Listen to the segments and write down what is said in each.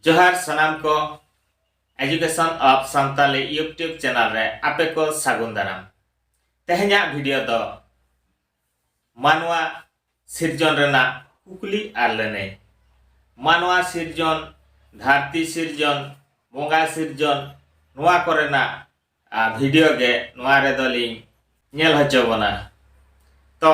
ᱡᱚᱦᱟᱨ ᱥᱟᱱᱟᱢ ᱠᱚ education of Santali YouTube channel ᱨᱮ ᱟᱯᱮ ᱠᱚ ᱥᱟᱹᱜᱩᱱ ᱫᱟᱨᱟᱢ ᱛᱮᱦᱮᱧᱟᱜ ᱵᱷᱤᱰᱤᱭᱳ ᱫᱚ ᱢᱟᱱᱣᱟ ᱥᱤᱨᱡᱚᱱ ᱨᱮᱱᱟᱜ ᱠᱩᱠᱞᱤ ᱟᱨ ᱞᱟᱹᱱᱟᱹᱭ ᱢᱟᱱᱣᱟ ᱥᱤᱨᱡᱚᱱ ᱫᱷᱟᱹᱨᱛᱤ ᱥᱤᱨᱡᱚᱱ ᱵᱚᱸᱜᱟ ᱥᱤᱨᱡᱚᱱ ᱱᱚᱣᱟ ᱠᱚᱨᱮᱱᱟᱜ ᱵᱷᱤᱰᱤᱭᱳ ᱜᱮ ᱱᱚᱣᱟ ᱨᱮᱫᱚ ᱞᱤᱧ ᱧᱮᱞ ᱦᱚᱪᱚ ᱵᱚᱱᱟ ᱛᱚ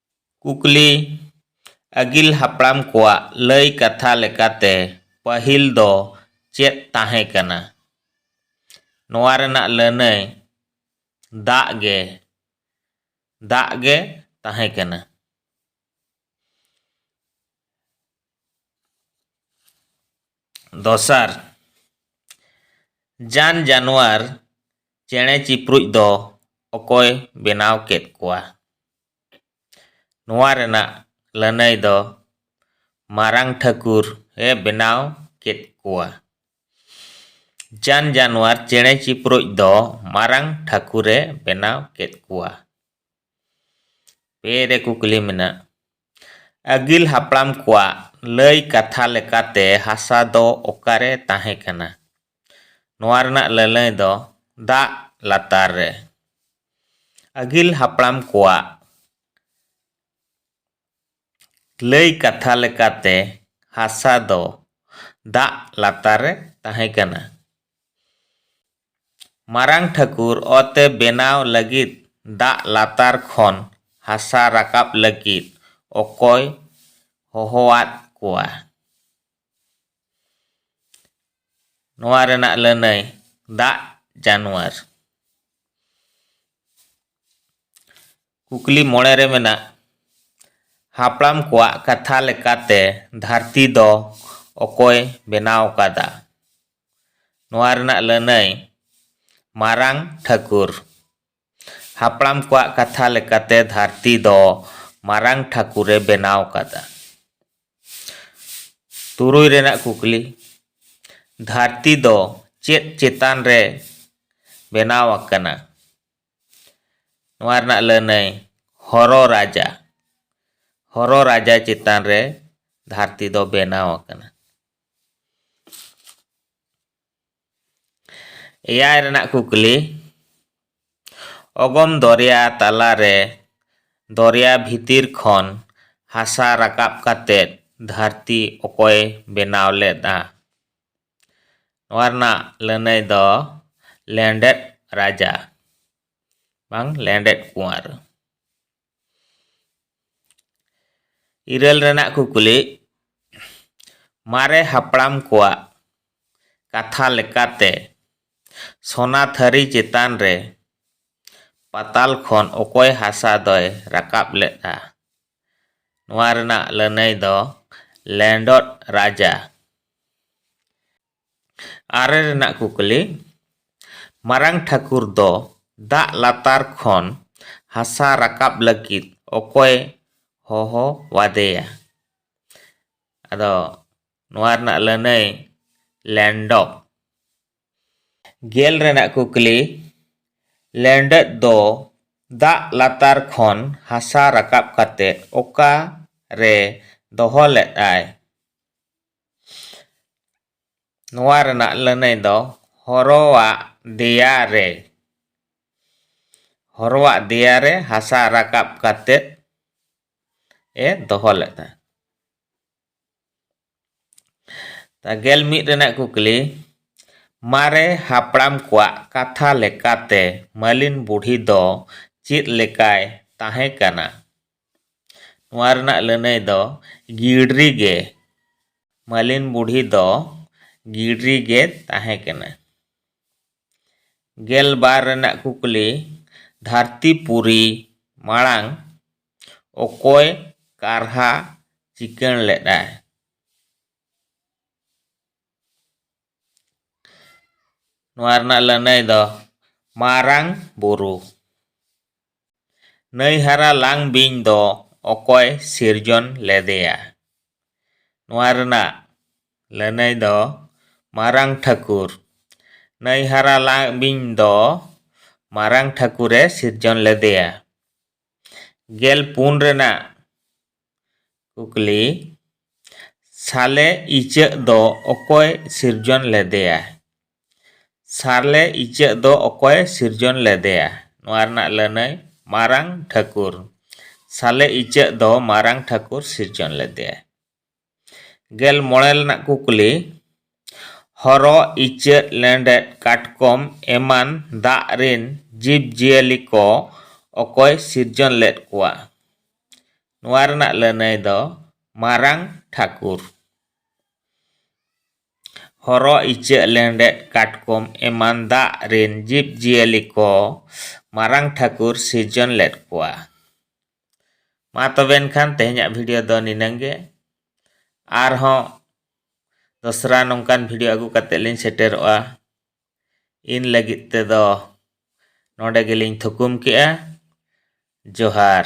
ᱠᱩᱠᱞᱤ ᱟᱹᱜᱤᱞ ᱦᱟᱯᱲᱟᱢ ᱠᱚᱣᱟᱜ ᱞᱟᱹᱭ ᱠᱟᱛᱷᱟ ᱞᱮᱠᱟᱛᱮ ᱯᱟᱹᱦᱤᱞ ᱫᱚ ᱪᱮᱫ ᱛᱟᱦᱮᱸ ᱠᱟᱱᱟ ᱱᱚᱣᱟ ᱨᱮᱱᱟᱜ ᱞᱟᱹᱱᱟᱹᱭ ᱫᱟᱜ ᱜᱮ ᱫᱟᱜ ᱜᱮ ᱛᱟᱦᱮᱸ ᱠᱟᱱᱟ ᱫᱚᱥᱟᱨ ᱡᱟᱱ ᱡᱟᱱᱣᱟᱨ ᱪᱮᱬᱮ ᱪᱤᱯᱨᱩᱡ ᱫᱚ ᱚᱠᱚᱭ ᱵᱮᱱᱟᱣ ᱠᱮᱫ ᱠᱚᱣᱟ ᱱᱚᱣᱟ ᱨᱮᱱᱟᱜ ᱞᱟᱹᱱᱟᱹᱭ ᱫᱚ ᱢᱟᱨᱟᱝ ᱴᱷᱟᱹᱠᱩᱨ ᱮ ᱵᱮᱱᱟᱣ ᱠᱮᱫ ᱠᱚᱣᱟ᱾ ᱡᱟᱱ ᱡᱟᱱᱣᱟᱨ ᱪᱮᱬᱮ ᱪᱤᱯᱨᱩᱡ ᱫᱚ ᱢᱟᱨᱟᱝ ᱴᱷᱟᱹᱠᱩᱨ ᱮ ᱵᱮᱱᱟᱣ ᱠᱮᱫ ᱠᱚᱣᱟ᱾ ᱯᱮ ᱨᱮ ᱠᱩᱠᱞᱤ ᱢᱮᱱᱟᱜ ᱟᱹᱜᱤᱞ ᱦᱟᱯᱲᱟᱢ ᱠᱚᱣᱟᱜ ᱞᱟᱹᱭ ᱠᱟᱛᱷᱟ ᱞᱮᱠᱟᱛᱮ ᱦᱟᱥᱟ ᱫᱚ ᱚᱠᱟᱨᱮ ᱛᱟᱦᱮᱸ ᱠᱟᱱᱟ? ᱱᱚᱣᱟ ᱨᱮᱱᱟᱜ ᱞᱟᱹᱞᱟᱹᱭ ᱫᱚ ᱫᱟᱜ ᱞᱟᱛᱟᱨ ᱨᱮ ᱟᱹᱜᱤᱞ ᱦᱟᱯᱲᱟᱢ ᱠᱚᱣᱟᱜ ᱞᱟᱹᱭ ᱠᱟᱛᱷᱟ ᱞᱮᱠᱟᱛᱮ ᱦᱟᱥᱟ ᱫᱚ ᱫᱟᱜ ᱞᱟᱛᱟᱨ ᱨᱮ ᱛᱟᱦᱮᱸ ᱠᱟᱱᱟ ᱢᱟᱨᱟᱝ ᱴᱷᱟᱹᱠᱩᱨ ᱚᱛᱮ ᱵᱮᱱᱟᱣ ᱞᱟᱹᱜᱤᱫ ᱫᱟᱜ ᱞᱟᱛᱟᱨ ᱠᱷᱚᱱ ᱦᱟᱥᱟ ᱨᱟᱠᱟᱵ ᱞᱟᱹᱜᱤᱫ ᱚᱠᱚᱭ ᱦᱚᱦᱚᱣᱟᱫ ᱠᱚᱣᱟ ᱱᱚᱣᱟ ᱨᱮᱱᱟᱜ ᱞᱟᱹᱱᱟᱹᱭ ᱫᱟᱜ ᱡᱟᱱᱣᱟᱨ ᱠᱩᱠᱞᱤ ᱢᱚᱬᱮ ᱨᱮ ᱢᱮᱱᱟᱜ ᱦᱟᱯᱲᱟᱢ ᱠᱚᱣᱟᱜ ᱠᱟᱛᱷᱟ ᱞᱮᱠᱟᱛᱮ ᱫᱷᱟᱹᱨᱛᱤ ᱫᱚ ᱚᱠᱚᱭ ᱵᱮᱱᱟᱣ ᱟᱠᱟᱫᱟ ᱱᱚᱣᱟ ᱨᱮᱱᱟᱜ ᱞᱟᱹᱱᱟᱹᱭ ᱢᱟᱨᱟᱝ ᱴᱷᱟᱹᱠᱩᱨ ᱦᱟᱯᱲᱟᱢ ᱠᱚᱣᱟᱜ ᱠᱟᱛᱷᱟ ᱞᱮᱠᱟᱛᱮ ᱫᱷᱟᱹᱨᱛᱤ ᱫᱚ ᱢᱟᱨᱟᱝ ᱴᱷᱟᱹᱠᱩᱨ ᱮ ᱵᱮᱱᱟᱣ ᱟᱠᱟᱫᱟ᱾ ᱛᱩᱨᱩᱭ ᱨᱮᱱᱟᱜ ᱠᱩᱠᱞᱤ, ᱫᱷᱟᱹᱨᱛᱤ ᱫᱚ ᱪᱮᱫ ᱪᱮᱛᱟᱱ ᱨᱮ ᱵᱮᱱᱟᱣ ᱟᱠᱟᱱᱟ? ᱱᱚᱣᱟ ᱨᱮᱱᱟᱜ ᱞᱟᱹᱱᱟᱹᱭ, ᱦᱚᱨᱚ ᱨᱟᱡᱟ᱾ ᱦᱚᱨᱚ ᱨᱟᱡᱟ ᱪᱮᱛᱟᱱ ᱨᱮ ᱫᱷᱟᱹᱨᱛᱤ ᱫᱚ ᱵᱮᱱᱟᱣ ᱟᱠᱟᱱᱟ᱾ ᱮᱭᱟᱭ ᱨᱮᱱᱟᱜ ᱠᱩᱠᱞᱤ ᱚᱜᱚᱢ ᱫᱚᱨᱭᱟ ᱛᱟᱞᱟ ᱨᱮ ᱫᱚᱨᱭᱟ ᱵᱷᱤᱛᱤᱨ ᱠᱷᱚᱱ ᱦᱟᱥᱟ ᱨᱟᱠᱟᱵ ᱠᱟᱛᱮ ᱫᱷᱟᱹᱨᱛᱤ ᱚᱠᱚᱭ ᱵᱮᱱᱟᱣ ᱞᱮᱫᱼᱟ ᱱᱚᱣᱟ ᱨᱮᱱᱟᱜ ᱞᱟᱹᱱᱟᱹᱭ ᱫᱚ ᱞᱮᱸᱰᱮᱫ ᱨᱟᱡᱟ ᱵᱟᱝ ᱞᱮᱸᱰᱮᱫ ᱠᱩᱶᱟᱨ ᱤᱨᱟᱹᱞ ᱨᱮᱱᱟᱜ ᱠᱩᱠᱞᱤ ᱢᱟᱨᱮ ᱦᱟᱯᱲᱟᱢ ᱠᱚᱣᱟᱜ ᱠᱟᱛᱷᱟ ᱞᱮᱠᱟᱛᱮ ᱥᱚᱱᱟ ᱛᱷᱟᱹᱨᱤ ᱪᱮᱛᱟᱱ ᱨᱮ ᱯᱟᱛᱟᱞ ᱠᱷᱚᱱ ᱚᱠᱚᱭ ᱦᱟᱥᱟ ᱫᱚᱭ ᱨᱟᱠᱟᱵ ᱞᱮᱫᱼᱟ ᱱᱚᱣᱟ ᱨᱮᱱᱟᱜ ᱞᱟᱹᱱᱟᱹᱭ ᱫᱚ ᱞᱮᱸᱰᱚᱫ ᱨᱟᱡᱟ ᱟᱨᱮ ᱨᱮᱱᱟᱜ ᱠᱩᱠᱞᱤ ᱢᱟᱨᱟᱝ ᱴᱷᱟᱹᱠᱩᱨ ᱫᱚ ᱫᱟᱜ ᱞᱟᱛᱟᱨ ᱠᱷᱚᱱ ᱦᱟᱥᱟ ᱨᱟᱠᱟᱵ ᱞᱟᱹᱜᱤᱫ ᱚᱠᱚᱭ ᱦᱚᱦᱚ ᱟᱫᱮᱭᱟ ᱟᱫᱚ ᱱᱚᱣᱟ ᱨᱮᱱᱟᱜ ᱞᱟᱹᱱᱟᱹᱭ ᱞᱮᱱᱰᱚᱠ ᱜᱮᱞ ᱨᱮᱱᱟᱜ ᱠᱩᱠᱞᱤ ᱞᱮᱱᱰᱚᱠ ᱫᱚ ᱫᱟᱜ ᱞᱟᱛᱟᱨ ᱠᱷᱚᱱ ᱦᱟᱥᱟ ᱨᱟᱠᱟᱵ ᱠᱟᱛᱮ ᱚᱠᱟ ᱨᱮ ᱫᱚᱦᱚ ᱞᱮᱫᱟᱭ ᱱᱚᱣᱟ ᱨᱮᱱᱟᱜ ᱞᱟᱹᱱᱟᱹᱭ ᱫᱚ ᱦᱚᱨᱚᱣᱟᱜ ᱫᱮᱭᱟ ᱨᱮ ᱦᱚᱨᱚᱣᱟᱜ ᱫᱮᱭᱟ ᱨᱮ ᱦᱟᱥᱟ ᱨᱟᱠᱟᱵ ᱠᱟᱛᱮᱫ ᱮ ᱫᱚᱦᱚ ᱞᱮᱫ ᱛᱟᱦᱮᱸᱫ ᱛᱟ ᱜᱮᱞ ᱢᱤᱫ ᱨᱮᱱᱟᱜ ᱠᱩᱠᱞᱤ ᱢᱟᱨᱮ ᱦᱟᱯᱲᱟᱢ ᱠᱚᱣᱟᱜ ᱠᱟᱛᱷᱟ ᱞᱮᱠᱟᱛᱮ ᱢᱟᱹᱞᱤᱱ ᱵᱩᱰᱷᱤ ᱫᱚ ᱪᱮᱫ ᱞᱮᱠᱟᱭ ᱛᱟᱦᱮᱸ ᱠᱟᱱᱟ ᱱᱚᱣᱟ ᱨᱮᱱᱟᱜ ᱞᱟᱹᱱᱟᱹᱭ ᱫᱚ ᱜᱤᱲᱨᱤ ᱜᱮ ᱢᱟᱹᱞᱤᱱ ᱵᱩᱰᱷᱤ ᱫᱚ ᱜᱤᱲᱨᱤ ᱜᱮ ᱛᱟᱦᱮᱸ ᱠᱟᱱᱟ ᱜᱮᱞ ᱵᱟᱨ ᱨᱮᱱᱟᱜ ᱠᱩᱠᱞᱤ ᱫᱷᱟᱹᱨᱛᱤ ᱯᱩᱨᱤ ᱢᱟᱲᱟᱝ ᱚᱠᱚᱭ ᱠᱟᱨᱦᱟ ᱪᱤᱠᱟᱹᱬ ᱞᱮᱫᱟᱭ ᱱᱚᱣᱟ ᱨᱮᱱᱟᱜ ᱞᱟᱹᱱᱟᱹᱭ ᱫᱚ ᱢᱟᱨᱟᱝ ᱵᱩᱨᱩ ᱱᱟᱹᱭ ᱦᱟᱨᱟ ᱞᱟᱝ ᱵᱤᱧ ᱫᱚ ᱚᱠᱚᱭ ᱥᱤᱨᱡᱚᱱ ᱞᱮᱫᱮᱭᱟ ᱱᱚᱣᱟ ᱨᱮᱱᱟᱜ ᱞᱟᱹᱱᱟᱹᱭ ᱫᱚ ᱢᱟᱨᱟᱝ ᱴᱷᱟᱹᱠᱩᱨ ᱱᱟᱹᱭ ᱦᱟᱨᱟ ᱞᱟᱝ ᱵᱤᱧ ᱫᱚ ᱢᱟᱨᱟᱝ ᱴᱷᱟᱹᱠᱩᱨᱮ ᱥᱤᱨᱡᱚᱱ ᱞᱮᱫᱮᱭᱟ ᱜᱮᱞ ᱯᱩᱱ ᱨᱮᱱᱟᱜ ᱠᱩᱠᱞᱤ ᱥᱟᱞᱮ ᱤᱪᱟᱹᱜ ᱫᱚ ᱚᱠᱚᱭ ᱥᱤᱨᱡᱚᱱ ᱞᱮᱫᱮᱭᱟ ᱥᱟᱞᱮ ᱤᱪᱟᱹᱜ ᱫᱚ ᱚᱠᱚᱭ ᱥᱤᱨᱡᱚᱱ ᱞᱮᱫᱮᱭᱟ ᱱᱚᱣᱟ ᱨᱮᱱᱟᱜ ᱞᱟᱹᱱᱟᱹᱭ ᱢᱟᱨᱟᱝ ᱴᱷᱟᱹᱠᱩᱨ ᱥᱟᱞᱮ ᱤᱪᱟᱹᱜ ᱫᱚ ᱢᱟᱨᱟᱝ ᱴᱷᱟᱹᱠᱩᱨ ᱥᱤᱨᱡᱚᱱ ᱞᱮᱫᱮᱭᱟ ᱜᱮᱞ ᱢᱚᱬᱮ ᱨᱮᱱᱟᱜ ᱠᱩᱠᱞᱤ ᱦᱚᱨᱚᱜ ᱤᱪᱟᱹᱜ ᱞᱮᱸᱰᱮᱫ ᱠᱟᱴᱠᱚᱢ ᱮᱢᱟᱱ ᱫᱟᱜ ᱨᱤᱱ ᱡᱤᱵᱽ ᱡᱤᱭᱟᱹᱞᱤ ᱠᱚ ᱚᱠᱚᱭ ᱥᱤᱨᱡᱚᱱ ᱞᱮᱫ ᱠᱚᱣᱟ ᱱᱚᱣᱟ ᱨᱮᱱᱟᱜ ᱞᱟᱹᱱᱟᱹᱭ ᱫᱚ ᱢᱟᱨᱟᱝ ᱴᱷᱟᱹᱠᱩᱨ ᱦᱚᱨᱚᱜ ᱤᱪᱟᱹᱜ ᱞᱮᱸᱰᱮᱫ ᱠᱟᱴᱠᱚᱢ ᱮᱢᱟᱱ ᱫᱟᱜ ᱨᱤᱱ ᱡᱤᱵᱽ ᱡᱤᱭᱟᱹᱞᱤ ᱠᱚ ᱢᱟᱨᱟᱝ ᱴᱷᱟᱹᱠᱩᱨ ᱥᱤᱨᱡᱚᱱ ᱞᱮᱫ ᱠᱚᱣᱟ ᱢᱟ ᱛᱚᱵᱮ ᱮᱱᱠᱷᱟᱱ ᱛᱮᱦᱮᱧᱟᱜ ᱵᱷᱤᱰᱤᱭᱳ ᱫᱚ ᱱᱤᱱᱟᱹᱝ ᱜᱮ ᱟᱨᱦᱚᱸ ᱫᱚᱥᱨᱟ ᱱᱚᱝᱠᱟᱱ ᱵᱷᱤᱰᱤᱭᱳ ᱟᱹᱜᱩ ᱠᱟᱛᱮ ᱞᱤᱧ ᱥᱮᱴᱮᱨᱚᱜᱼᱟ ᱤᱱ ᱞᱟᱹᱜᱤᱫ ᱛᱮᱫᱚ ᱱᱚᱰᱮ ᱜᱮᱞᱤᱧ ᱛᱷᱩᱠᱩᱢ ᱠᱮᱜᱼᱟ ᱡᱚᱦᱟᱨ